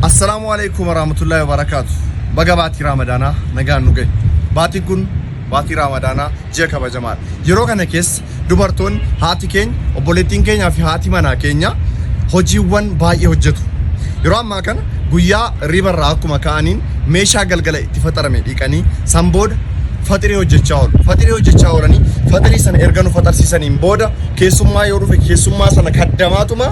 Assalaamu alaikum warahmatullahi wabarakatuh. Baga baatii Raamadaanaa nagaan nu gahe. Baatiin kun baatii Raamadaanaa ji'a kabajamaadha. Yeroo kana keessa dubartoonni haati keenya, obboleettiin keenyaa fi haati manaa keenya hojiiwwan baay'ee hojjetu. Yeroo ammaa kana guyyaa riibarraa akkuma ka'aniin meeshaa galgala itti faxarame dhiqanii san booda faxirii hojjechaa oolu. Faxirii hojjechaa oolanii faxirii sana erga nu faxarsiisaniin booda keessummaa yoo dhufe keessummaa sana kaddamaatuma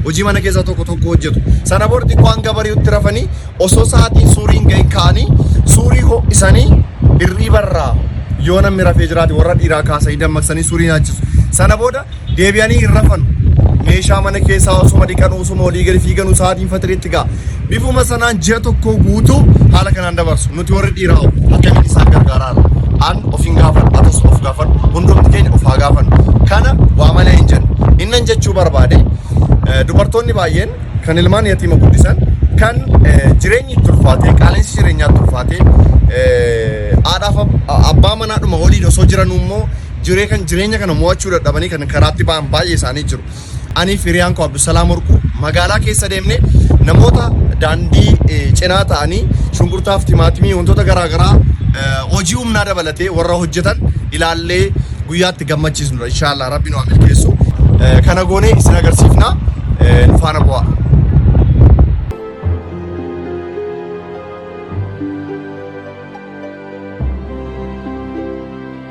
hojii mana keessaa tokko tokko hojjetu. Sana booda xiqqoo hanga bari'utti rafanii osoo sa'aatiin suuriin ga'e ka'anii suurii ho'isanii hirriibarraa yoo namni rafee jiraate warra dhiiraa kaasanii dammaqsanii suurii nyaachisu. Sana booda deebi'anii hin rafanu. Meeshaa mana keessaa osuma dhiqanu osuma olii gadi fiiganu sa'aatiin faxiriitti ga'a. Bifuma sanaan ji'a tokkoo guutuu haala kanaan dabarsu. Nuti warri dhiiraa hoo akkamiin isaan gargaaraa jirra? An of hin gaafadhu, atis of gaafadhu, hundumti keenya of haa gaafannu. Kana waa malee hin jennu. Innan jechuu barbaade eh, dubartoonni baay'een kan ilmaan yatiima guddisan kan eh, jireenyi itti ulfaatee qaala'insi jireenyaa itti ulfaatee eh, haadhaaf ab- abbaa manaadhuma waliin osoo jiranuu immoo jiree kan jireenya kana mo'achuu dadhabanii kan karaatti ba'an baay'ee isaanii jiru. Anii fi hiriyaan koo Abdusalaam Warquu magaalaa keessa deemne namoota daandii eh, cinaa ta'anii shunkurtaaf timaatimii wantoota garaagaraa eh, hojii humnaa dabalatee warra hojjetan ilaallee guyyaatti gammachiisnudha. Inshaallah rabbi nu haa milkeessu. Eh, Kana goonee isin agarsiifna. Eh, Nu faana bu'aa.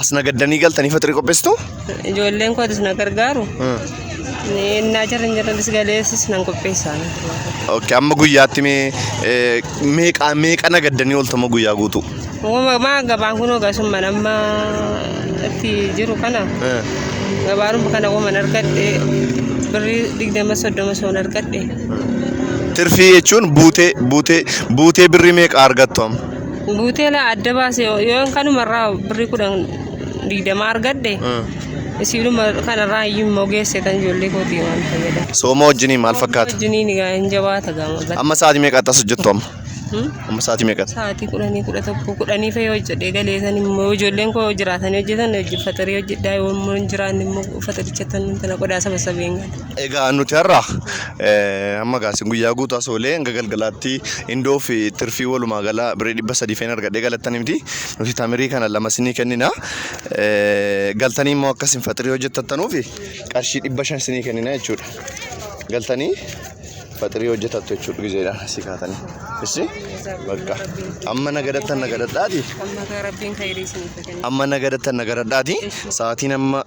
As nagaddanii galtanii faxirii qopheessitu? Ijoolleen kootis na gargaaru. Innaa jarri hin jirretis galeessis nan qopheessa. Ok, amma guyyaatti mee eh, meeqa meeqa nagaddanii ooltama guyyaa guutuu? Uumamaa gabaan kun ogasumman amma itti jiru kana Eh, gabaaruma kana uuman argadhe birrii digdama soddoma soon argadhe. Tirfii jechuun buutee buutee buutee birrii meeqa argattu amma? Guuteela adda baase yoo kanumarraa birrii kudhan digdamaa argadhe isiidhuma kanarraa iyyuu immoo geesseetan ijoollee kootii waan fayyadamu. Sooma wajjinii maal fakkaata? Wajjiniin egaa hin jabaata gama gala. Amma sa'aatii meeqatti as hojjettu amma? Hmm? Amma sa'aatii meeqatti? Sa'aatii kudhanii kudha tokko kudhanii fa'ii hojjedhee galeetan immoo ijoolleen koo jiraatanii hojjetan hojii fatarii hojjedhaa yoo immoo hin jiraanne immoo fatarichatti tana qodaa saba sabeen gala. Egaa nuti har'a amma gaasi guyyaa guutuu as oolee hanga galgalaatti indoo fi tirfii walumaa gala birrii dhibba sadii feen argadhee galattanii miti. Nuti tamirii kana lama isinii kennina. Galtanii immoo akka isin faxirii hojjettattanuufi qarshii dhibba shan isinii kennina jechuudha. Galtanii faxirii hojjetattu jechuudha gizeedhaan asii kaatanii. Issi bakka amma nagadattan nagadattaa ti. Amma nagadattan nagadattaa ti. Sa'aatiin amma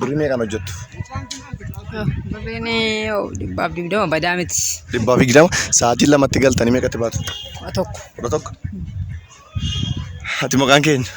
Birrii meeqaan hojjettu? Birriin dhibbaaf digdama badaa miti. Dhibbaaf digdama. Sa'aatii lamatti galtanii meeqatti baatu? Kudha tokko. Kudha tokko. Ati maqaan keenya?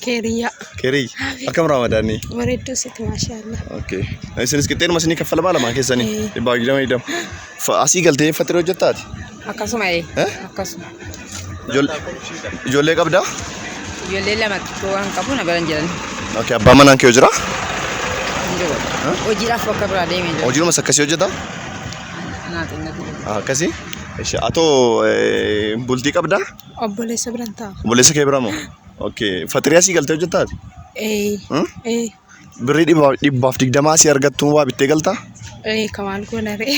Keeriyyaa. Keerii. Akkam raamadaanni? Bareedduu sitti maashaallah. Okay. Isinis qixxeenuma isinii kaffalamaa lamaan keessanii? Dhibbaaf digdama digdama. Asii galtee fattiree hojjettaati? Akkasuma ee. Eh? Akkasuma. Ijol- Ijoollee qabdaa? Ijoollee lama xiqqoo waan qabu na bira hin jiran. Okay, abbaa manaan kee jira? Hin jiru. Hojiidhaaf bakka biraa deemee jira. Hojiinumas akkasii hojjetaa? Anaa xinnatu jira. Ah, Akkasii? Ishi, atoo eh, bultii qabdaa? Obboleessa biran ta'a. Obboleessa kee bira moo? Okay, fatiriyaa sii galtee hojjetaa ati? Ee. Hmm? Ee. Birrii dhibba- dhibbaaf digdamaa sii argattuun waa bittee galtaa? Ee kamaan goona ree.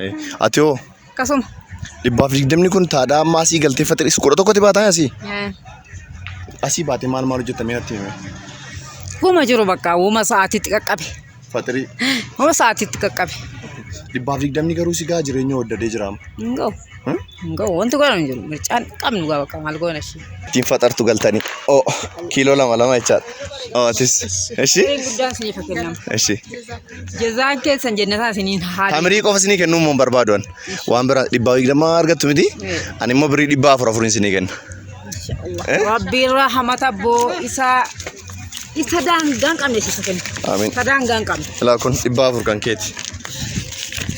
Eh, Ati hoo? Akkasuma. Dhibbaaf digdamni kun taadhaa amma asii galtee faxir isa kudha tokkotti baataa asii. Asii baatee maal maal hojjetta mee natti hime. Wuma jiru bakka wuma sa'aatiitti qaqqabe. Faxirii. Wuma sa'aatiitti qaqqabe. Dhibbaaf digdamni garuu si gaa jireenya waddadee jiraama. Hin ga'u. Hmm? Hin ga'u. Wanti godhamu hin jiru. Mircaan qabnu gaa bakka maal goona ishee. Ittiin faxartu galtanii. Oo kiiloo lama lama jechaadha. Oo atis. Ishii. Guddaan isiniif haa kennamu. Ishii. Jazaa keessan jennataa isiniin haa Tamirii qofa isinii kennuu immoo hin barbaadu ani. Waan biraa dhibbaa digdamaa argattu miti. Ani immoo birrii dhibbaa afur afuriin isinii kenna. Rabbiin rahamata boo isa isa daangaan qabne isa kenna. Amiin. Isa daangaan qabne. Ilaa kun dhibbaa afur kan keeti.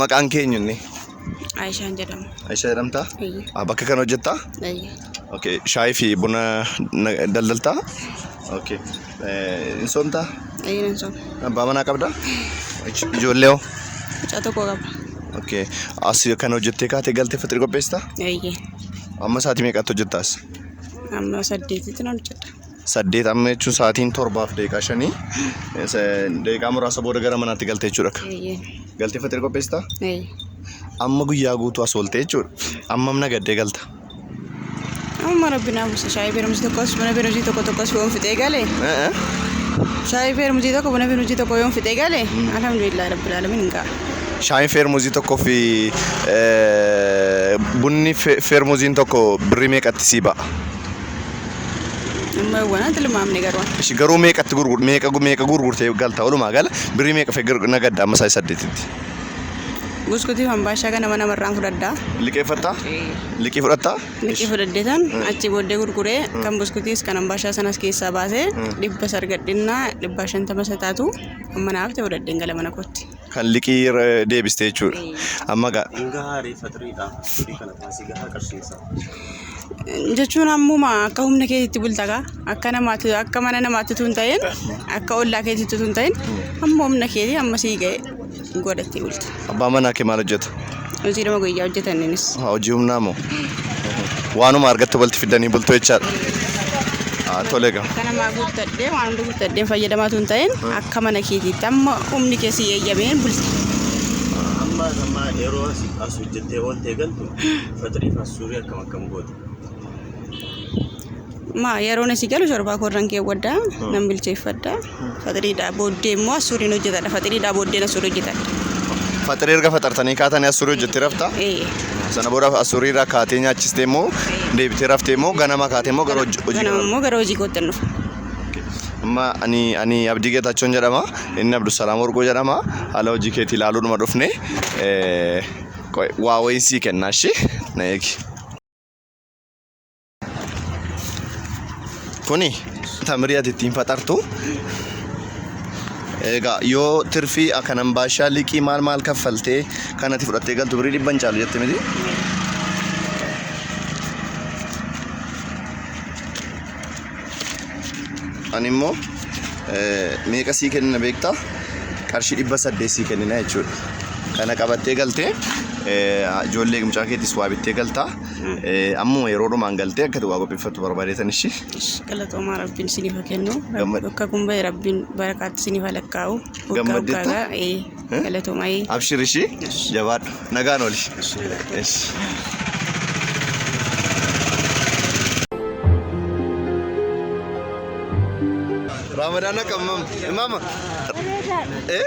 Maqaan kee eenyunni? Aishaan jedhama. Aisha jedhamtaa? Eeyyee. Ah, Bakka kana hojjettaa? Eeyyee. Okay. Shaayii fi buna na- daldaltaa? Okay. Eh, Hin soomtaa? Eeyyee nan sooma. Abbaa manaa qabdaa? Ij- Ijoollee hoo? Mucaa tokko qaba. Okay. As kana hojjettee kaatee galtee fixrii qopheessitaa? Eeyyee. Amma sa'aatii meeqatti hojjettaas? Amma saddeetitti nan hojjedha. saddeet amma jechuun sa'aatiin torbaaf daqiiqaa shanii daqiiqaa muraasa booda gara manaatti galte jechuudha. Galtee faxira qopheessita? Amma guyyaa guutuu as oolte jechuudha. Ammam nagaddee galta? Amma rabbi naa buusa shaayii beerumsi tokkos buna beerumsi tokko tokkos yoon fixee gale shaayii beerumsi tokko buna beerumsi tokko yoon fixee gale alhamdulillah rabbil alamin hin ga'a. Shaayiin feermuzii tokkoo fi bunni feermuziin tokko birrii meeqatti sii ba'a? Amma waan tilmaamne garuu. Ishi garuu meeqatti gurgur meeqa meeqa gurgurtee galta walumaa gala birrii meeqa fee nagadda amma isaa saddeetitti. Buskutii hambaashaa kana mana marraan fudhadhaa. Liqeeffattaa? Liqii fudhattaa? Liqii fudhadheetan achi booddee gurguree kan buskutis kan hambaashaa sanas keessaa baasee dhibba sargadhinnaa dhibba shantama isa taatu amma naaf ta'e fudhadheen gala mana kootti. Kan liqii irra deebiste jechuudha. Amma gaa Hin gahaa ree faxiriidha. Firii kana baasii gahaa qarshiinsa. jechuun ammuma akka humna keetitti bulta gaa akka namaatti akka mana namaatti tun ta'in akka ollaa keetitti tun ta'in amma humna keetii amma sii ga'e godhattee bulta. abbaa manaa kee maal hojjeta? Hojii dhuma guyyaa hojjetan innis. Haa, Hojii humnaa moo? Waanuma argattu balti fiddanii bultu jechaadha. Haa, Tole egaa. Akka namaa guuttadhee waan hunda guuttadheen fayyadamaa tun ta'in akka mana keetiitti amma humni kee si eeyyameen bulti. Amma amma yeroo as as hojjettee ooltee galtu fatiriif as suurii akkam akkam goote. Ma yeroon asii galu shorbaa koorran keewwadha nan bilcheeffadha faxiriidhaa booddee immoo assuuriin hojjetadha faxiriidhaa booddeen assuurii hojjetadha. Faxirii erga faxartanii kaatanii assuurii hojjettee rafta. Ee Sana booda assuurii irraa kaatee nyaachistee immoo deebitee raftee immoo ganama kaatee immoo gara hojii hojii ganama immoo gara hojii kootti hin dhufa. Amma ani ani Abdii Geetaachoon jedhama. Inni Abdusalaam Warquu jedhama. Haala hojii keetii ilaaluudhuma dhufne eh, qoy- waa wayiin sii kennaa ishee na eegi. Kuni tamirii ati ittiin faxartu. Egaa yoo tirfii akkanan baashaa liqii maal maal kaffaltee kan ati fudhattee galtu birii dhibban caalu jette miti. Ani immoo eh, meeqa sii kennina beektaa? Qarshii dhibba saddeet sii kennina jechuudha. Kana qabattee galtee eh, ijoollee mucaa keetis waa bittee galtaa. Ammuma yeroo dhumaan galtee akkati waa qopheeffattu barbaadeetan ishii. Galatoomaa rabbiin isiniif haa kennu. Gammad- Bakka kun bahe rabbiin barakaatti isiniif haa lakkaa'u. Waggaa Gammaddeetta? waggaadhaa. Ee, Eh? Galatoomaa. ee. Abshir ishii jabaadhu nagaan oli. Yes. Ramadaan akka mam- maama. Eh?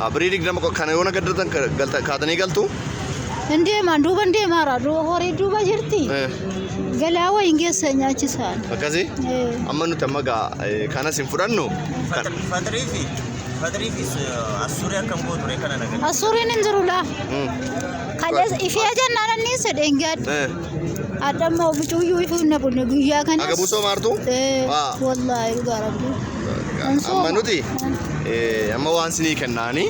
Ah, Birii digdama qo- kana yoona gaddatan ka- galta- kaatanii galtu. Hin deemaan duuba hin deemaara duuba horii duuba jirti. Eh, Galaa wayiin geessa nyaachisaan. Akkasii. Eh. Amma nuti amma gaa eh, kanas hin fudhannu. Kan- Fatrii fi fatrii fi assuurii akkam gootu ree kana nagaa. Assuuriin hin jirulaa. Mm. Kan ifee jennaan anniin sedheen gaadde. Eh. Adda amma ofitu iyyuu ifu hin naqunne guyyaa kanas. Agabuu soo maartu? Eh, Waa. Wallaahi dhugaa rabbi. Kan sooma. Amma nuti eh, amma waan sinii kennaani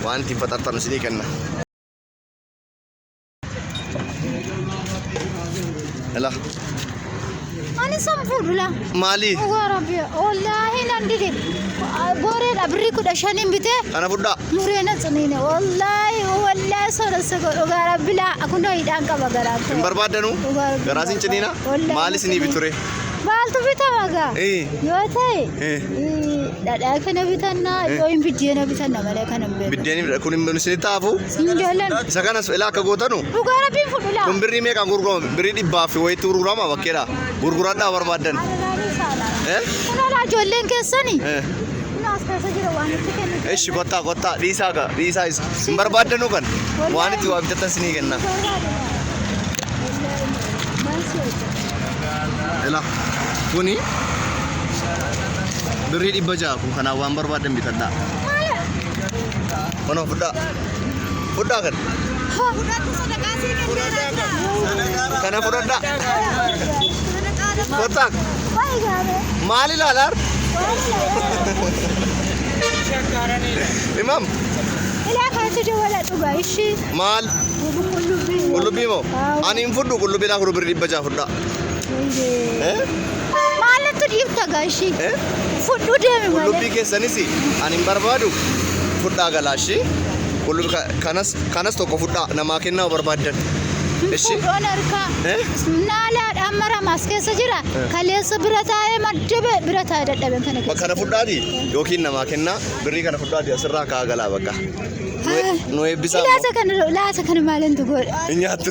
waan ittiin faxartanu sinii kenna. Ela. Ani san fuudhula. Maali? Dhugaa rabbi wallaahi nan dide. Gooreedha birrii kudha shaniin bitee Kana fudhaa. muree na ciniine wallaahi wallaahi soda sego dhugaa rabbi laa kunoo hidhaan qaba garaa koo. Hin barbaadanu? Dhugaa rabbi Garaa sin ciniina? Wallaahi Maali sin ciniina. biture? Maaltu bitama gaa? Eh. Yoo ta'e Eh. eh, dhadhaa kana bitannaa Eh. yoo hin biddeena bitanna malee kan hin beeknu. Biddeen kun hin isinitti haafu? Hin jaallan. Isa kanas ilaa akka gootanu Dhugaa rabbiin fudhu laa. kun birrii meeqaan gurgurama? Birrii dhibbaa fi wayiitti gurgurama bakkeedha. Gurguradhaa barbaaddan. Aragaanii saala. Eh? Kun alaa ijoolleen keessani. Eh. Kun as keessa jira waan itti kennu. Eshi kottaa kottaa dhiisaa ka dhiisaa isa. Hin barbaaddanuu kan waan itti waa bitattan sinii kenna. Ila kuni birrii dhibba ja'a kun kanaan waan barbaaddan bitadhaa. Mana fudhaa. Fudhaa kan. Kana fudhadhaa. Kottaa. Maal ilaalaa? Imam Ilaa kanatti dawwala dhugaa ishii. maal? Qullubbii moo? Ani hin fudhu qullubbii naa fudhu birrii dhibba ja'a fudhaa. Eh? Maaltu dhiibta gaashii? Eh? Fudhuu deemi Qullubbii malee. keessanis ani hin barbaadu fudhaa galaashii. Qullubbii ka- kanas kanas tokko fudhaa namaa kennaa barbaaddan. Ishi Fudhoon harkaa. Eh? Naalaadha amma ramaas keessa jira. Kaleessa bira taa'ee maddabe bira taa'ee dadhaben kana keessa. kana fudhaati yookiin namaa kennaa birrii kana fudhaati asirraa kaa galaa bakka. Nu- Nu eebbisaa. Laata kana laata kana maalintu godha? Hin nyaattu.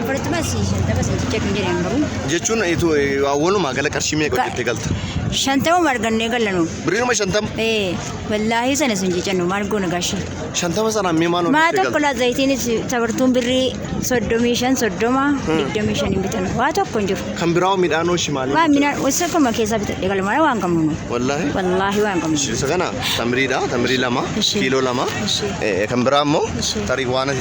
Afartama si shantama si jecha kan jedhan garuu. Jechuun itu walumaa gala qarshii meeqa hojjettee galta? Shantama argannee galanu. Birriinuma shantama? Ee wallaahi sana sun jecannu maal goona gaashee. Shantama sanaan mee maal Maa hojjettee tokko galta? laa zayitiinis sabartuun birrii soddomii shan soddoma digdamii shan hin bitan waa tokko hin jiru. Kan biraa hoo midhaan hoo shimaalii? Waa minaan wasa akkuma keessaa bitadhe galmana waan qabnu nu. Wallaahi. Wallaahi waan qabnu. Isa kana tamiriidha, tamirii lama, Ishee. kiiloo lama. Ishee. Eh, Kan biraa immoo Ishee. tarii waan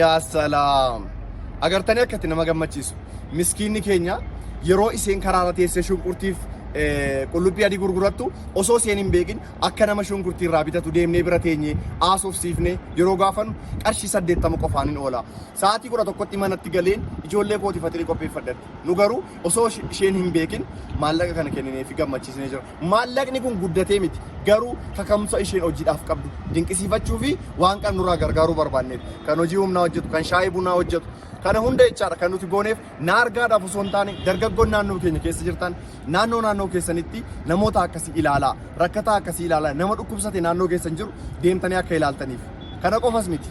Yaa salaam! Agartanii akka itti nama gammachiisu. Miskiinni keenya yeroo isheen karaarra teessee shunkurtiif qullubbii adii gurgurattu osoo isheen hin beekin akka nama shunkurtii irraa bitatu deemnee bira teenye haasofsiifnee yeroo gaafannu qarshii saddeettama qofaan hin oola. Sa'aatii kudha tokkotti manatti galeen ijoollee kootiif faxirii qopheeffadhatti. Nu garuu osoo isheen hin beekin maallaqa kana kennineefi gammachiisnee jira. Maallaqni kun guddatee miti, garuu kaka'umsa isheen hojiidhaaf qabdu dinqisiifachuu fi waan qabnurraa gargaaruu barbaanneeti. Kan hojii humnaa hojjetu, kan shaayii bunaa hojjetu, kana hunda jechaadha kan nuti gooneef na argaadhaaf osoo hin taane dargaggoon naannoo keenya keessa jirtan naannoo naannoo keessanitti namoota akkasii ilaalaa, rakkataa akkasii ilaalaa, nama dhukkubsate naannoo keessan jiru deemtanii akka ilaaltaniif. Kana qofas miti.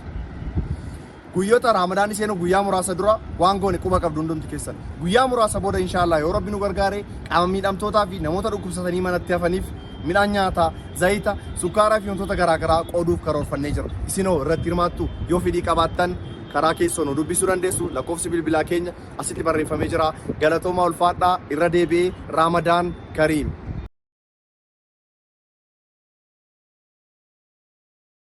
Guyyota Raamadaanni seenu guyyaa muraasa dura waan goone quba qabdu hundumti keessan. Guyyaa muraasa booda inshaa Allah yoo Rabbi nu gargaare qaama miidhamtootaa fi namoota dhukkubsatanii manatti hafaniif midhaan nyaataa, zayita, sukkaaraa fi wantoota garaa garaa qooduuf karoorfannee jirra. Isinoo irratti hirmaattu yoo fedhii qabaattan karaa keessoo nu dubbisuu dandeessu. Lakkoofsi bilbilaa keenya asitti barreeffamee jira. Galatoomaa ulfaadhaa irra deebi'ee Raamadaan Kariim.